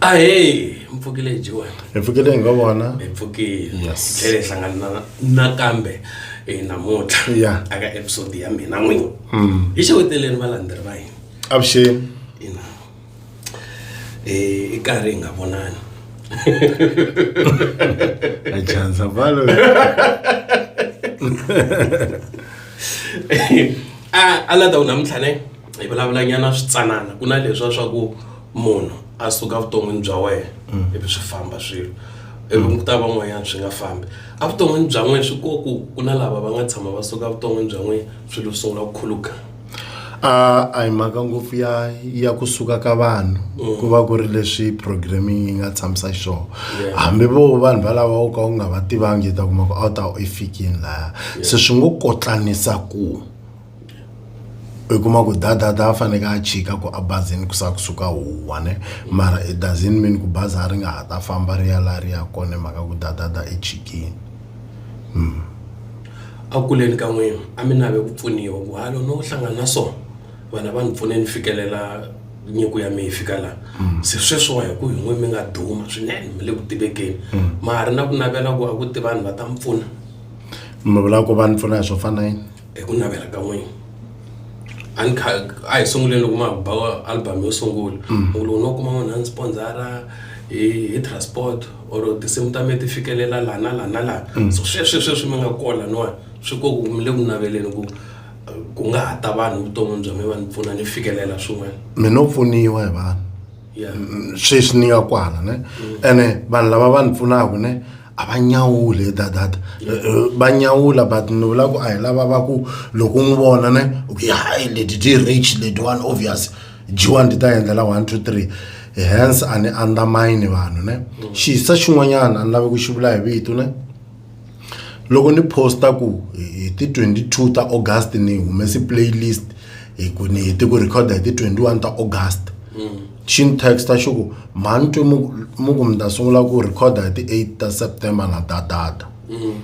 ahee mpfukile jiwe hi pfukile hi nga vona hi pfukile Yes. tlhele hi hlangana na- nakambe hi namuntlha Yeah. aka episode ya mina n'wini hi xeweteleni valandzeri va hina avuxeni ina eh, i karhi hi nga vonani achanza valo a a la ta ku namuntlha ne hi vulavulanyana switsanana ku na leswa swa ku munhu a suka vuton'wini bya wena mm. ivi swi famba swilo ivi mm. ku ta van'wanyana swi nga fambi evuton'wini bya n'wina swi ko ku ku na lava va nga tshama va suka vuton'wini bya n'wina swilo swi sungula ku khuluka a a hi mhaka ngopfu ya ya kusuka ka vanhu mm. ku va ku ri leswi programming yi nga tshamisa xona hambi vo vanhu valava u ka u nga va tivangi ta kuma ku a wu ta i fikini laya se swi ngo kotlanisa ku i kuma ku dadada a faneke a chika ku a bazini ku sa kusuka huwa ne mara it doesn't mean ku bazi a ri nga ha ta famba ri ya laha ri ya kona mhaka ku dadada i chikini A ku kuleni ka n'wina a mi nave ku pfuniwa ku halo no hlangana na so vanhu a va ni pfune ni fikelela nyiko ya mi yi fika la se sweswiwa hi ku hi n'we mi nga duma swinene mi le ku tivekeni ma ha ri na ku navela ku a ku ti vanhu va ta mi pfuna mi vula ku va ni pfuna hi swo fana na yini. hi ku navela ka n'wina a ni kha a hi sunguleni loko ma ba album yo sungula mm. u loko no kuma munhu a ni sponsora hi hi transport or tinsimu ta mina ti fikelela laha na laha na laha mm. so sweswi sweswi mi nga kola niwani swi ko ku mi le ku naveleni ku ku nga ha ta vanhu vuton'wini bya mi va ni pfuna ni fikelela swin'wana mi no pfuniwa hi vanhu sweswi ni nga kwala ne mm. ene vanhu lava va ni pfunaka ne a va nyawuli hi that that eh, eh, va nyawula but ni vula ku a hi lava va ku loko u n'wi vona ne u ku hayi leti ti rich leti one obvious jiwani ti ta endlela one two three hence a ni undermine vanhu ne xisa xin'wanyana a ni lavi ku xi vula hi vito ne loko ni posta ku hi ti 22 ta august ni humesi playlist hi ku ni heti ku recorda hi ti 21 ta august Shin Texta xi ku, Mhani twe mi ku mi ta sungula ku rhikhoda hi ti-8 ta September na ta data. Mm.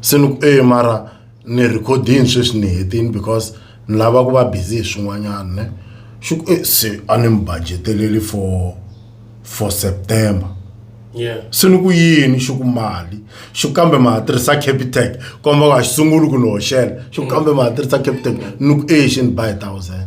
Se ni ku, e mara ni rhikhodini sweswi ni hetini because ni lava ku va busy hi swin'wanyana ne. Xi ku, e se a ni mi budgeteleli for for September. Yeah. Se ni ku yini xi ku mali. Xi ku kambe ma ha tirhisa Capitec, komba ku a xi sunguli ku ni hoxela. Xi ku kambe ma ha tirhisa Capitec, ni ku e xi ni ba hi thousand.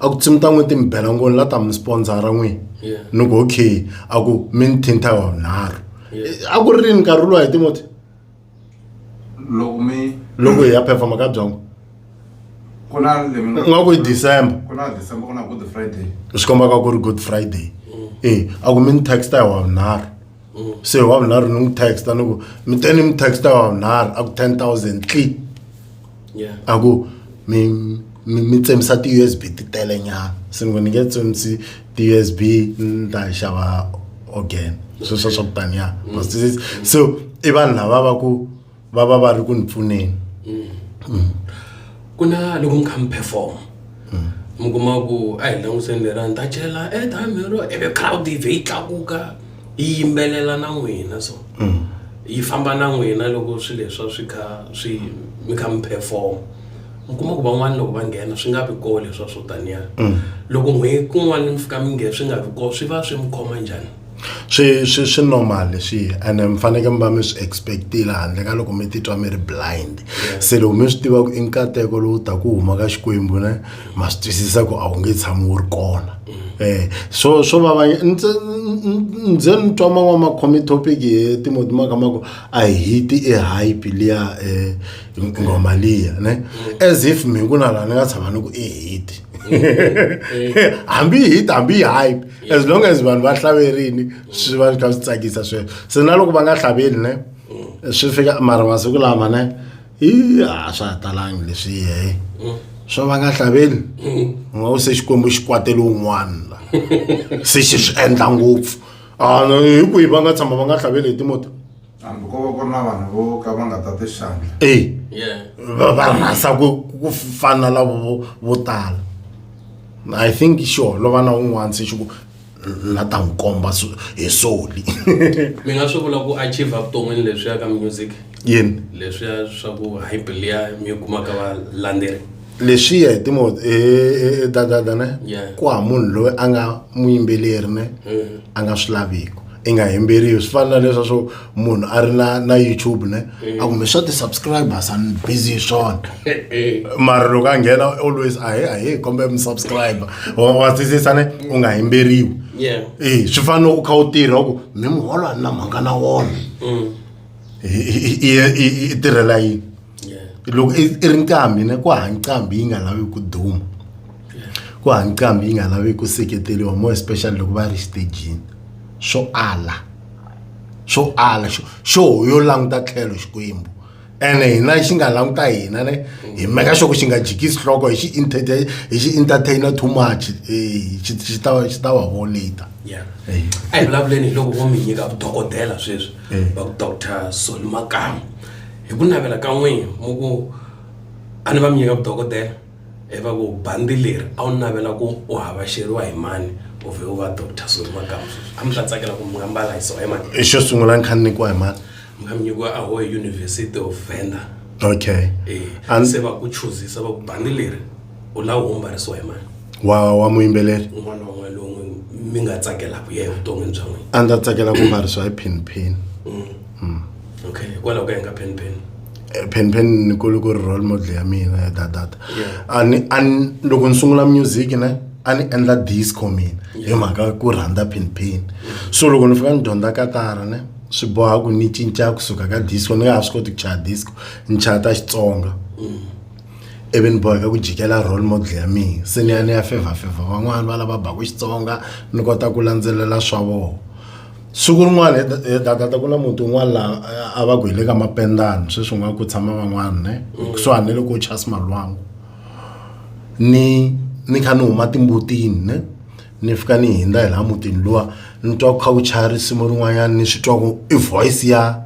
a ku tsimi ta n'wi ti mi bela ngoni la ta mi sponsora n'wini Yeah. ni ku okay a ku mi ni thinta wa vunharhu Yeah. a ku ri rini nkarhi luwa hi timoti loko mi loko hi ya performa ka byongo ku na lemi nga- nga ku hi december ku na december ku na good friday swi kombaka ku ri good friday e a ku mi ni taxta hi wa vunharhu mm. se wa vunharhu ni n'wi texta ni ku mi te ni mi texta wa vunharhu a ku ten thousand tli a ku mi mi tsemisa ti-u s b ti tele nyana se ni ku ni nge tsemisi ti-u s b ni ta xava again sweswo swa ku taniya mm. so i vanhu lava va ku va va va ri ku ni pfuneni mm. ku na loko mi kha mi perform mm. mi kuma ku a hi langutiseni lera ni ta chela airtime eh, lero ivi crowd ive yi tlakuka yi yimbelela na n'wina so mm. yi famba na n'wina loko swi leswa swi kha swi mi kha mi perform mi kuma ku van'wana loko va nghena swi nga vi koo leswa swo taniya loko n'hweti kun'wana mi fika mi nghena swi nga vi koo swi va swi mi khoma njhani Swi swi swi normal leswi and mi fanekele mi va mi swi expect-ile handle ka loko mi titwa mi ri blind. Se loko mi swi tiva ku i nkateko lowu taka wu huma ka Xikwembu ne ma swi twisisa ku a wu nge tshami wu ri kona. Eh swo swo vava ni se ni ze ni twa man'wana ma khome topic hi Timoti ma kha ma ku a hi hiti e hype liya nghoma liya ne as if mina ku na laha ni nga tshama ni ku i hit hambi yi hit hambi yi hype. as long as vanhu va hlaverini swi va kha swi tsakisa sweswo se na loko va nga hlavelini ne mm. swi fika mara masiku lama ne i a swa ha talangi leswi yehe mm. swa va nga hlavelini mm. u nga u se xikwembu xi kwatele un'wana la se xi swi endla ngopfu a ah, hi kwihi va nga tshama va nga hlaveli hi timoto hambi ko va ku ri na vanhu vo ka va nga ta ti xandla e va va rhasa ku ku fana lavo vo- vo tala i think xi holova na un'wana se xi ku na ta n'wi komba so- hi soli mi nga swi vula ku achieve vuton'wini leswiya ka music yini leswiya swa ku hi biliya mi yi kumaka valandzeri leswiya hi timo dadada ne ku ha munhu loyi a nga muyimbeleri ne mm-hmm. a nga swi laviki i nga yimberiwi swi fana na leswa swo munhu a ri na na youtube ne mm-hmm. a kumbe swa ti-subscribers an busy hi swona mara loko a nghena always ahe ahe kombe mi subscriber wa twisisa ne u nga yimberiwi e swi fana u kha u tirha ku mi muholo a ni na mhanga na wona mm. i tirhela yini loko i i ri nqambi na ku ha nqambi yi nga lavi ku duma ku ha nqambi yi nga lavi ku seketeriwa more especially loko va ri xitejini swo ala swo ala xo xo yo languta tlhelo xikwembu ene hina xi nga languta hina ne hi meka xo ku xi nga jikisi nhloko hi xi entertain hi xi entertainer too much eh, xi xi ta xi ta va ho later Yeah. Eh. a hi vulavuleni hi loko vo mi nyika vudokodela sweswi Eh. va ku dr soni makamu hi ku navela ka n'wini mu ku a ni va mi nyika vudokodela hi va ku bandi leri a wu navela ku u havaxeriwa hi mani u vhe u va doctor suri makamu sweswi a mi ta tsakela ku mi nga mbala hi sona hi mani xo sungula ni kha ni nyikiwa hi mani mi nga mi nyikiwa a ho hi university of venda okay Eh, a ni se va ku chuzisa va ku bandi leri u la wo mbarisiwa hi mani wa wa muyimbeleri un'wana un'we lowu mi nga tsakela ku yena vuton'wini bya n'wina a ndzi tsakela ku mbarisiwa hi pin pin okay hikwalaho ka yini ka pen pen Eh, pin pin ni kule ku ri role model ya mina ya dadada Yeah. a ni a ni loko ni sungula music ne a ni endla disco mina hi mhaka ku rhandza pin pin so loko ni fika ni dyondza katara ne swi boha ku ni cinca kusuka ka disco ni nga ha swi koti ku chaya disco ni chaya ta xitsonga ivi ni boheka ku jikela role model ya mina se ni ya ni ya fevha fevha van'wana va lava baku xitsonga ni kota ku landzelela swa vona siku rin'wana hi dakata ku na muti un'wana laha a va ku hi le ka mapendani sweswi nga ku tshama van'wana ne kusuhani loko u chasi malwangu ni ni kha ni huma timbutini ne ni fika ni hindza hi laha mutini luwa ni twa ku kha ku chaya risimu rin'wanyana ni swi twa ku i voice ya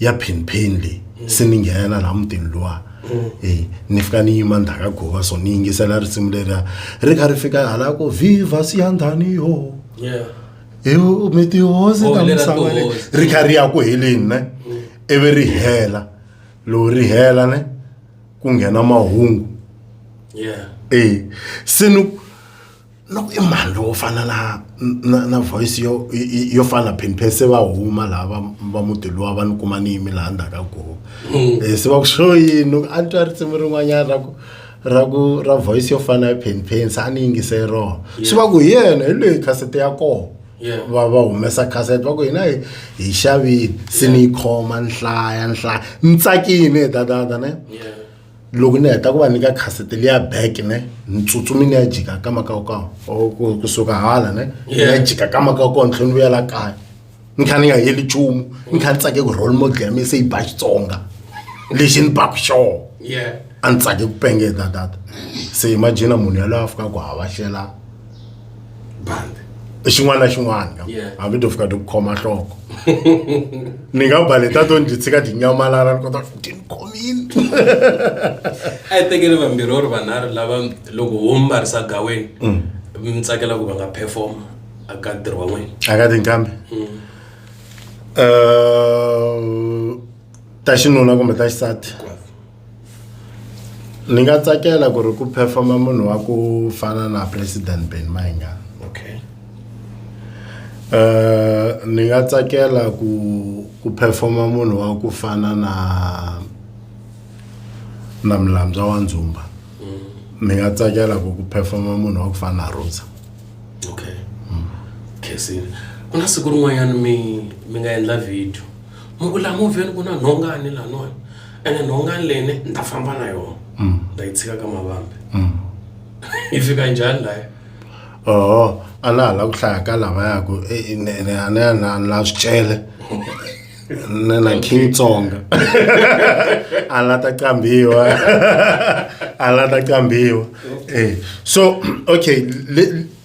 ya phinphini leyi mm. se ni nghenela laha mutini luwa mm. e ni fika ni yima ndhaka gova so ni yingisela risimu leriya ri kha ri fika hala ko viva siyandhani yo hi mi tihosi oh, ta misava leyi ri kha ri ya ku heleni ne mm. ivi ri hela lowu ri hela ne ku nghena mahungu e se ni loko i mhani lowo fana na na na voice yo yo fana na phenpheni se va huma laha va va muti luwa va ni kuma ni yimi laha ndzhaku ka goho um se va ku xo yini a ni twa risimu rin'wanyana ra ku ra ku ra voice yo fana ya phenpheni se a ni yingise rona swi va ku hi yena hi loyi khasete ya kona va va humesa cassette va ku hina hi hi xavile se ni yi khoma nhlaya nhlaya ni tsakile dadada ne loko ni heta ku va nyika khasete liya back ne ni tsutsumi ni ya jika ka makawukawu or kusuka hala ne ni ya jika ka makawukawu ni tlhela ni vuyela kaya ni kha ni nga heli nchumu ni kha ni tsake ku role model ya mina se yi ba xitsonga lexi ni baku xoho a ni tsake ku pengeta tata se imagina munhu yaloye a fikaka hava xela bandi i xin'wana na xin'wana Yeah. hambi to fika ti ku khoma nhloko ni nga baleta to ndzi tshika tinyamalala ni kota ku ti ni khomile a yi tekeli vambirhi or vanharhu lava loko wo mbarisa gaweni mi tsakela ku va nga perform aka ntirho wa n'wina a ka tinkambi Eh, ta xinuna kumbe ta xisati Ni nga tsakela ku ri ku perform munhu wa ku fana na president Benny Mayengani okay ni nga tsakela ku ku perform munhu wa ku fana na na Mlanbza wa Ndzumba ni nga tsakela ku ku perform munhu wa ku fana na Rosa okay khensile ku na siku rin'wanyana mi mi nga endla video mi ku la movheni ku na nhonga ni laniwani. ene nhonga leni ni ta famba na yona mm. ni ta yi tshika ka mavambi mm. yi fika njhani laya oho a na ha la ku hlaya ka lava yaku eh, eh, ni a ni na na swicele ni na king tsonga a la ta qambiwa a la ta qambiwa eh, so okay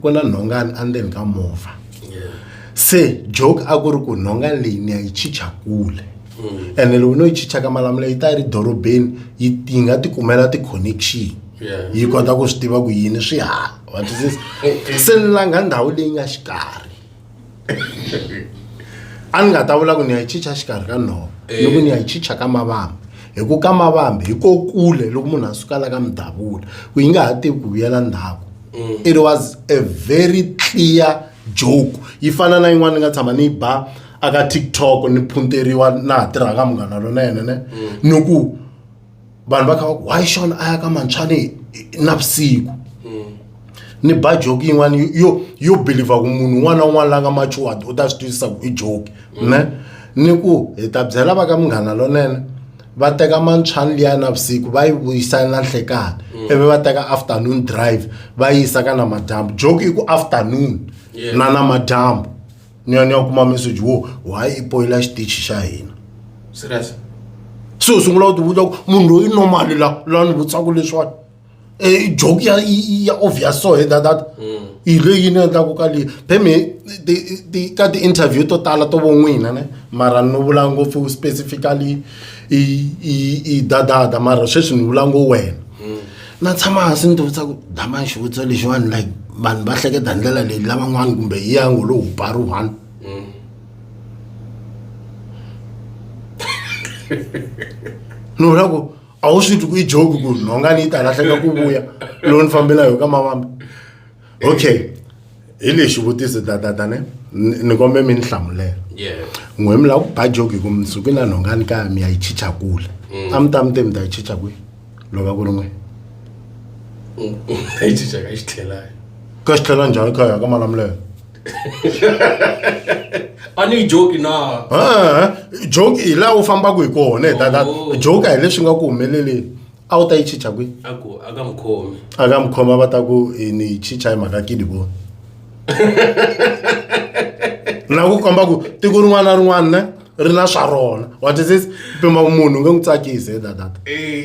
ku na nhongani endzeni ka movha se joke a ku ri ku nhongani leyi ni ya yi chicha kule mm. ene loko no yi chicha ka malamula yi ta yi ri dorobeni yi yi nga ti kumela ti-connection yi kota ku swi tiva ku yini swi hala wa twisisa se ni langa ndhawu leyi nga xikarhi a ni nga ta vula ku ni ya yi chicha xikarhi ka nhova ni ku ni ya yi chicha ka mavambi hi ku ka mavambi hi ko kule loko munhu a suka la ka midavula ku yi nga ha tivi ku vuyela ndhaku it was a very clear joke yi fana na yin'wana ni nga tshama ni yi ba aka tiktok ni phunteriwa na ha tirhaka munghana lona yena ne ni ku vanhu va kha va ku why xon a ya ka mantshwane navusiku ni ba joki yin'wana yo yo believer ku munhu un'wana na un'wana la nga matured u ta swi twisisa ku i joki ne ni ku hi ta byela va ka munghana lonene va teka mantshwani liya navusiku va yi vuyisa na nhlekani mm. ivi va teka afternoon drive va yisa ka namadyambu joki i ku afternoon na namadyambu nyanya u kuma message wo why i poyila xitichi xa hina serious se u sungula u tivuta ku munhu loyi normali la la ni vutsaku leswiwani e joke ya ya obvious so he that that mm. hi leyi ni endlaku ka leyi pheme ka ti-interview to tala to vo n'wina ne mara ni vula ngopfu specifically i dadada mara sweswi ni vula ngo wena mm. na tshama hansi ni tivutisa ku dama xivutiso lexiwani like vanhu va hleketa ndlela leyi lavan'wana kumbe yi ya ngo lowu pari one ni vula ku a wu swi twi ku yi joke ku nhonga ni yi ta lahleka ku vuya lowu ni fambela yo ka mavambi okay hi lexi vutiso tatata ne ni kombe mi ni hlamulela n'we mi lava ku ba jogi ku mi suki na nhongani kaya mi ya yi chicha kule mm. a mi ta mi te mi ta yi chicha kwihi loko va ku ri n'we a yi chicha ka xi tlhelayo ka xi tlhela njhani kaya ka malamulelo a ni joki na joki hi laha u fambaka hi kona hi tata oh. joki a hi leswi nga ku humeleleni a wu ta yi chicha kwihi a ku a ka mukhomi a ka mukhoma va ta ku eh, ni yi chicha hi mhaka kini vona na ku komba ku tiko rin'wana na rin'wana ne ri na swa rona what is this pima ku munhu u nge n'wi tsakisi hi dadata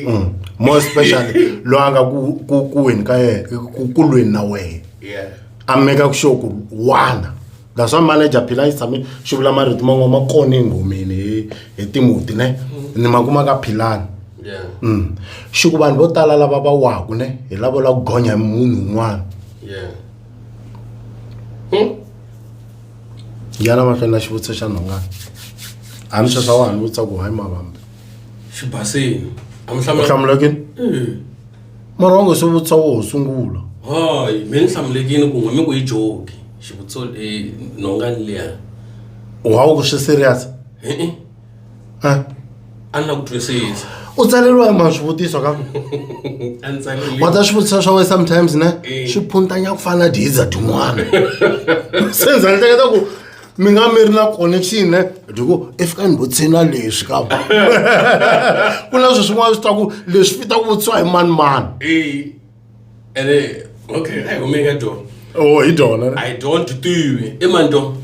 Mm. more especially loyi a nga ku- ku kuweni ka yena ku- kulweni na wena yeah a meka ku sure ku wana that's why manager phila yi tshame xi vula marito man'wana ma kona enghomeni hi hi timuti ne ni ma kuma ka philani mm. xi ku vanhu vo tala lava va waku ne hi lavo la ku gonya hi munhu un'wana hmm? yana mahlweni na xivutiso xa nhongana a ni sweswa wa ha ni vutisa ku hayi mavambe xibasini a mi hlamula u hlamulekini mara wa ngo swi vutisa wo ho sungula hoy mi ni hlamulekini ku n'we mi ku yi joki xivutiso eh, nhongani liya wa wu ku swi serious e-e Eh, a ni la ku twisisa u tsaleriwa hi mani swivutiso ka ku a ni tsarile wa ta swivutiso swa wena sometimes ne Eh. swi phuntanya ku fana na diza tin'wana se ndzi hleketa ku mi nga mi ri na connection eh? diko if ka ni bo tshena leswi ka ku na swi swin'wana swi ta ku leswi fita ku vutisiwa hi mani mani eh ene okay ai home ka do oh hi dona i don't do you e man do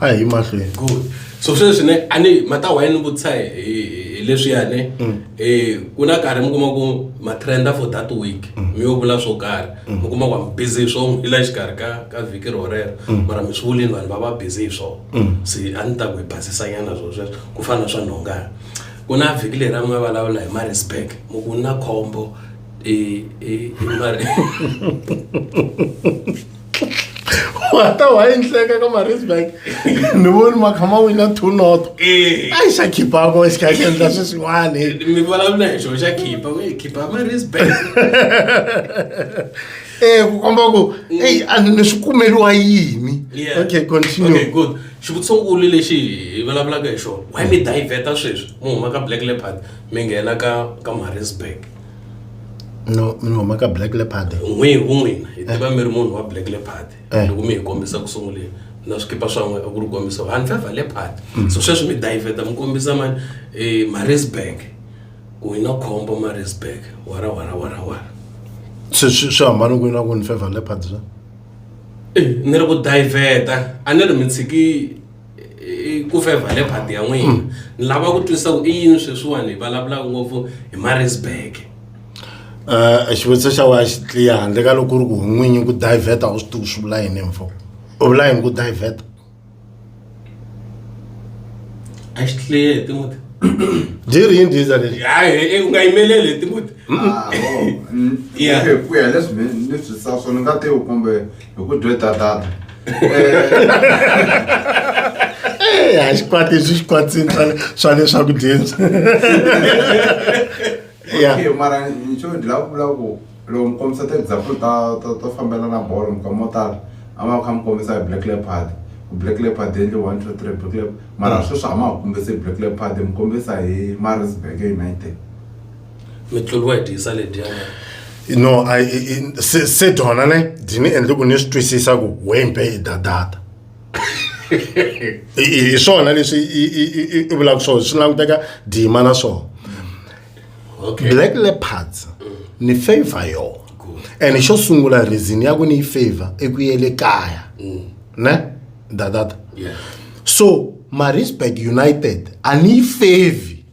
ai ma hle good so sweswi ne ani mata wa yini vutisa hi leswi ya ne mm. eh kuna karhi mi kuma ku ma trenda for that week mm. mi yo vula swo karhi mm. u kuma ku am busy hi swona i la xikarhi ka ka vhiki rorero mm. mara mi swi vulini vanhu va va busy hi swona mm. se a ni ta ku hi basisanyana swo sweswo ku fana na swa nhongana ku na vhiki leri a mi nga vulavula hi marisburg mu ku na khombo i i i mari wata wayenhleka ka marisburg ni voni ma kha ma wina two not eh. a yi xa khipako xi kha xi endla swi swin'wani eh, mi vulavula hi xona xa khipa mi khipa marisburg e ku komba ku mm. eyi a ni swi kumeriwa yini okay continue good xivutisonkulu lexi hi vulavulaka hi xona why mi diveta sweswi mu huma ka black leopard mi nghena ka ka marisburg no mi huma ka black leopard n'wi ku n'wina hi tiva mi ri munhu wa black leopard Eh. loko mi hi kombisa ku sunguleni na swikipa swa n'we a ku ri kombisa handle va leopard Mm. so sweswi mi diveta mi kombisa ma eh, marisburg ku hi na khombo marisburg wara wara wara wara swi swi- swi hambana kwini na ku ni favor leopard swa Eh, ni ri ku diveta a ni ri mi tshiki ku fevha leopard ya n'wina hmm. ni lava ku twisisa ku i yini sweswiwani hi vulavulaka ngopfu hi marisburg um xivutiso xa wa xi tliya handle ka loko ku ri ku n'winyi ku diveta u swi tivi swi vula yini mfo u vula yini ku diveta a xi tliye hi timuti byi ri yini diza lexi hayi u nga yimeleli hi timuti ah, oh, mm, ku ya leswi ni swi sa swo ni nga tivi kumbe hi ku dwe tatata eh, a xikwati leswi xikwatsini swa leswaku dyeni okay mara nxo ndzi lava ku vula ku loko mi kombisa ti-example ta to to fambela na bolo minkama yo tala a ma kha mi kombisa hi black leopard black leopard endle one two three black leopard mara mm. sweswi a ma ha kombisi black leopard mi kombisa hi marisburg united mi tluriwa hi dyisa ledyiya no I, I, se, se dyona ne byi ni endle ku ni swi twisisa ku wempe i dadata hi swona leswi i vulaka swona swi languteka dima na swona okay. black leopards ni favor yona and xo sungula reason ya ku ni yi favor i ku yele kaya mm. ne dadata yeah. so marisburg united a ni yi favi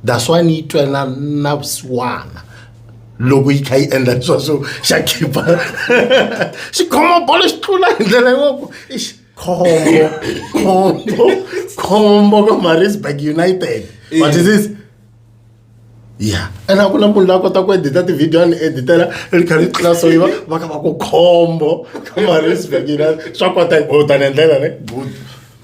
that's why ni yi twa na na vusiwana loko yi kha yi endla leswa swo xa khipa xi khoma bolo xi tlula hi ndlela yoko khombo khombo khombo ka marisburg united what is this ya ene a ku na munhu la kota ku edita tivhidiyo ni editela ri kha ri tlula so yiva va kha va ku khombo ka marisburg united swa kota hi botana hi ndlela ne good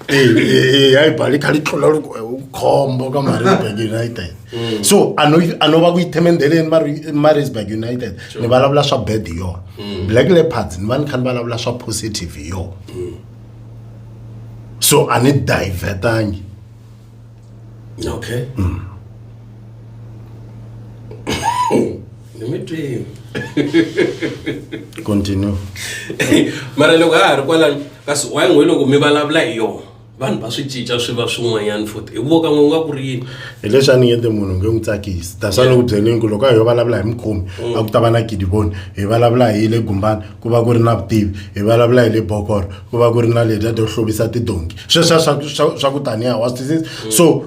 ehe hayi bali kha li tlula loko eh, u khombo ka maritzburg united mm. so a no a no va ku yi themendeleni maritzburg united ni vulavula swa bad hi yona mm. black leopards ni va ni kha ni vulavula swa positive hi yona mm. so a ni divertangi okay mm. let me dream continue mara loko a ha ri kwalani kasi wayin'we loko mi vulavula hi yona vanhu va swi cinca swi va swin'wanyana futhi hi voka n'we nga ku ri yini hileswi a ni yende munhu nge n'wi tsakisi tasa ni ku byelini ku loko a hi yo vulavula hi mukhomi mm. a ku ta va na gidiboni hi vulavula hi le gumbani ku va ku ri na vutivi hi vulavula hi le bokoro ku va ku ri na leta to hluvisa tidonki sweswiya swa swa- swa ku taniya wa swi twisisa so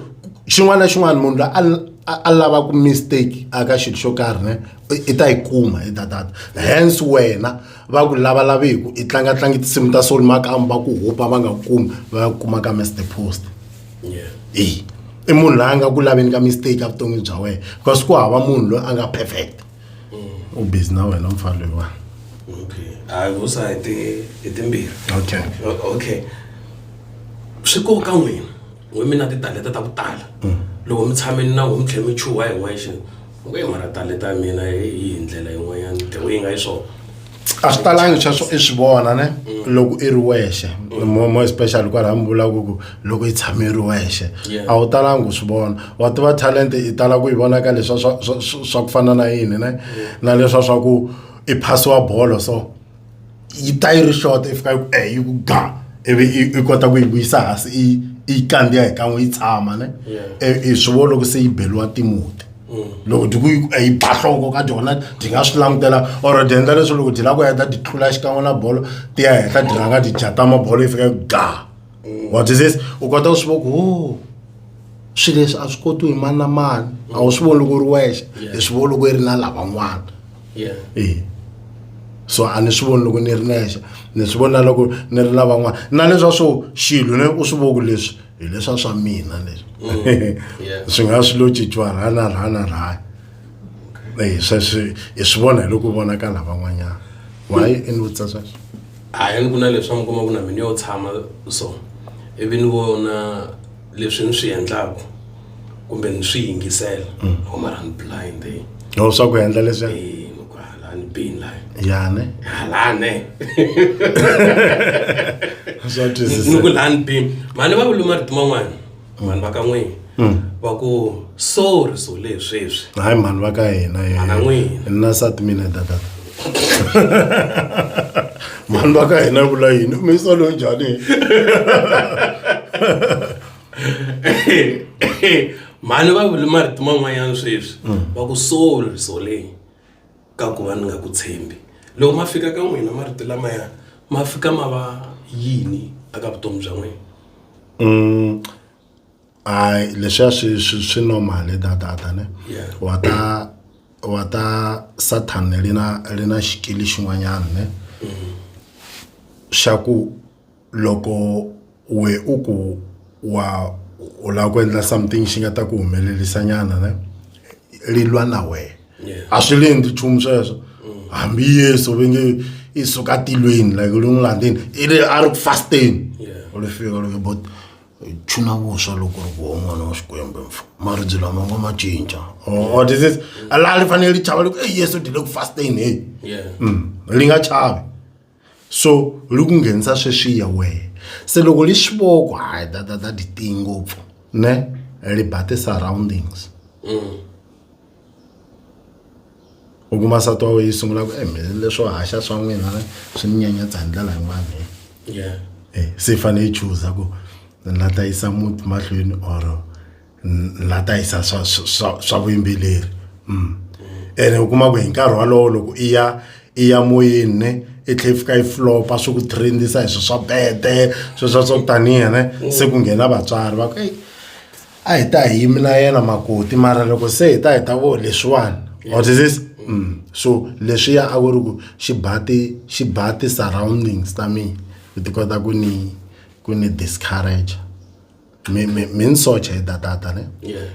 xin'wana na xin'wana munhu la a a- a lava ku mistake aka xilo xo karhi ne i- i ta yi kuma i tatata hence wena va ku lavalaviku i tlangatlangi tinsimu ta soul makamu va ku hupa va nga ku kumi va ya ku kuma ka mr post eyi i munhu loyi a nga ku laveni ka mistake a vuton'wini bya wena because ku hava munhu loyi a nga perfect u busy na wena mfana loyi wa okay hayi vusa hi ti hi timbirhi okay okay swi koka n'wina n'we mi na titalenta ta ku tala mm. loko mi tshameni na n'we mi tlhela mi chuha hi n'wexe u nge mara talenta ya mina hi ndlela yin'wanyana the way yi nga yi swona a swi talangi sweswo i swi vona ne mm. loko i ri wexe mo especially kwalaha mi vulaka ku loko i tshame i ri wexe a wu talangi u swi vona wa tiva talent i tala ku yi vona ka leswa swa ku fana na yini ne na leswa swa ku i phasiwa bolo so yi ta yi ri short i fika yi ku e yi ku ga ivi i kota ku yi vuyisa hansi i yi kandziya hi kan'we yi tshama ne i swi vona loko se yi beliwa timuti loko ti ku hi ba nhloko ka dyona ti nga swi langutela or ti endla leswo loko ti lava ku heta ti tlula xikan'we na bolo ti ya henhla ti rhanga ti jatama bolo yi fika yi ga what is this u kota ku swi voko o oh, swilo leswi a swi koti hi mani na mani a wu swi voni loko u ri wexe hi swi voni loko yi ri na lavan'wana e so a ni swi voni loko ni ri nexe ni swi vona loko ni ri lavan'wana na leswa swo xilo ne u swi voku leswi hi leswa swa mina leswi mm. swi nga swi lo cinciwa rha na rha na rha eh, sweswi hi swi vona hi loko vona ka lava n'wanyana wayi i ni vutisa sweswo a hi ni ku na leswi mi kuma ku na mina yo tshama so ivi ni vona leswi ni swi endlaku kumbe ni swi yingisela mm. oh mara ni blind eh. no swa ku endla leswi eh, ni ku halani bini layi yane halane swa twisisa ni ku lani bini mani va vuluma rito man'wana mm. vanhu va ka n'wini mm. va ku sorry so lesweswi hayi mhani va ka hina ana n'wina na sati mina dada mhani va ka hina vula yini umisa loyi njhani mhani va vule marito man'wanyana sweswi mm. va ku soul soleng ka ku va ni nga ku tshembi loko ma fika ka n'wina marito lamaya ma fika ma va yini aka vutomi bya n'wina mm. hayi leswiya swi swi swi normal dadada ne wa ta wa ta satan ri na ri na xikili xin'wanyana ne mm. xa ku loko we u ku wa u lava ku endla something xi nga ta ku humelerisa nyana ne ri lwa na wena a swi le endli nchumu sweswo hambi yesu ve nge i suka tilweni like ri n'wi landzeni i ri a ri ku fasteni u ri fika loko bot chuna vuswa loko ri voho n'wana wa xikwembu mfa maribye lama nga ma cinca or this is laha ri fanele ri chava loko e yesu ri le ku fasteni heyi ri nga chavi so ri ku nghenisa sweswiya wehe se loko li swi voko hayi that that that tiyi ngopfu ne ri ba ti surroundings u kuma nsati wa wena yi sungula ku e mina leswo haxa swa n'wina ne swi ni nyanyatsa hi ndlela yin'wana he yeah Eh, se yi fanele yi chuza ku ni la ta yisa muti mahlweni or la ta yisa swa swa swa vuyimbeleri mm. ene u kuma ku hi nkarhi walowo loko i ya i ya moyeni ne i tlhe fika yi flopa swi ku trendisa hi swi swa bete sweswa swa ku tanihi ne mm. se ku nghena vatswari va ku a hi ta hi yimi na yena makoti mara loko se hi ta hi ta vo leswiwani what is this mm. so leswiya a ku ri ku xi bati xi bati surroundings ta mina ku ti kota ku ni ku ni discourage mi mi mi ni socha hi datata ne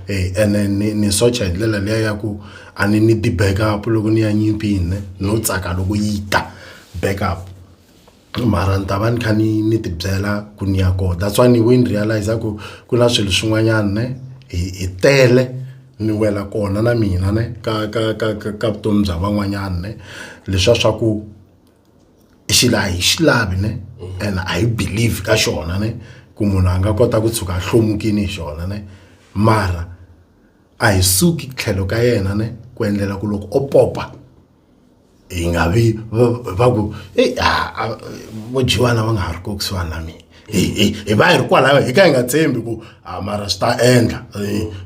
e ene ni ni socha hi ndlela liya ya ku a ni ni ti-back up loko ni ya nyimpini ne no tsaka loko yi ta back up mara ni ta va ni kha ni ni tibyela ku ni ya kona that's why ni we ni realize ku ku na swilo swin'wanyana ne hi hi tele ni wela kona na mina ne ka ka ka ka ka vutomi bya van'wanyana ne leswiya swa ku i xilo a hi xi lavi ne mhm. and a hi believe ka xona ne ku munhu a nga kota ku tshuka a hlomukini hi xona ne mara a hi suki tlhelo ka yena ne ku endlela ku loko o popa hi nga vi va ku eyi vo jiwana va nga ha ri ko kusuhani na mina hi va hi ri kwalaho hi ka hi nga tshembi ku a mara swi ta endla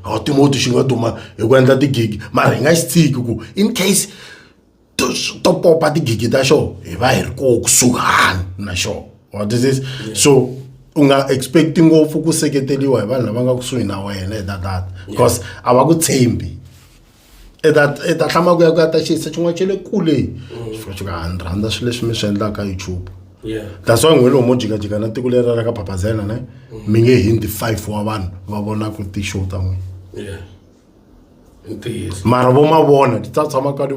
a timoti xi nga duma hi ku endla tigigi mara hi nga xi tshiki ku in case to to popa tigigi ta xona hi va hi ri koho kusuhani na xona what is this so u nga expect ngopfu ku seketeriwa hi vanhu lava nga kusuhi na wena hi tatata because a va ku tshembi i ta hlama ku ya ku ya ta xiyisa xin'wana xa le kule mm. xifika xi ka a ni rhandza swilo leswi mi swi endlaka youtube that's why n'wini lomo jikajika na tiko leri ra ka papazela ne mm. mi nge hindi five wa vanhu va vonaka ti-show ta n'wina mara vo ma vona ti ta tshama ka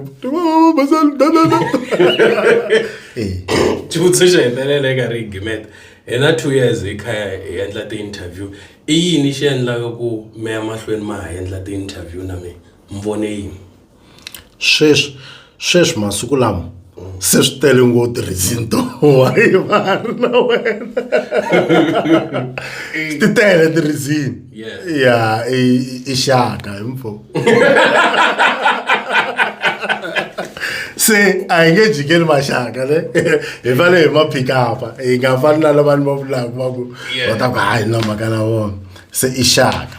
xivutiso xi hetelela eka ri gimeta hi na two years hi kha hi endla ti-interview i yini xi endlaka ku meya mahlweni ma ha endla ti-interview na mina ni vone yini sweswi sweswi masiku lama se swi tele ngo tirhisini to wayi va ri na wena ti tele tirhisini ya i xaka hi mpfo se a hi nge jikeli maxaka ne hi fane hi ma phikapa hi nga fani na lavani va vulaka va ku va ta ku hayi na mhaka na vona se i xaka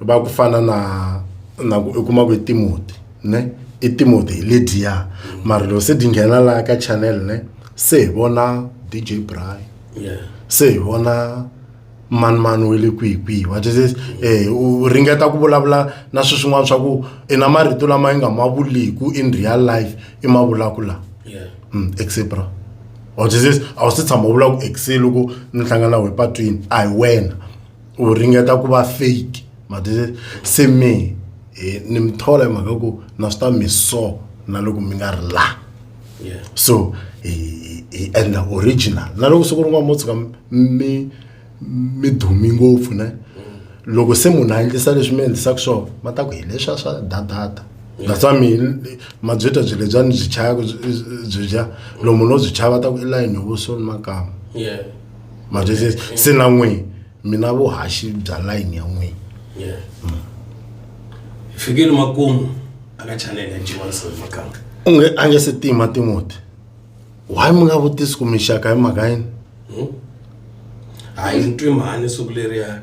va ku fana na na ku u kuma ku i timoti ne i timoti hi lediya mara loko se di nghena laha ka channel ne se hi vona dj bry yeah. se hi vona mani mani we le kwihi kwihi wa jesus eh u ringeta ku vulavula na swi swin'wana swa ku i na marito lama yi nga ma vuliku in real life i ma vulaku laha yeah. mm, exebra wa jesus a wu se tshama u vula ku exe loko ni hlangana we patwini a hi wena u ringeta ku va fake matwisisa se me eh, ni mi thola hi mhaka yo ku na swi ta mi so na loko mi nga ri laha Yeah. so hi hi- hi endla original na loko siku rin'wana mo tshuka mi mi dumi ngopfu ne loko se munhu a endlisa leswi mi endlisaka swona va ta ku hi leswiya swa dadada that's why mi mabyeta byi lebya ni byi chayaka byi byi byi dya lomu no byi chaya va ta ku i layini yo vusoni makama Yeah. ma byi se se na n'wini mina vuhaxi bya layini ya n'wini yeah mm. hi fikile makumu aka chanele ya G1 Silver Makamba u nge a nge se tima Timothy why mi nga vutisi ku mixaka hi mhaka yini hmm? hayi ni twi mhani siku leriya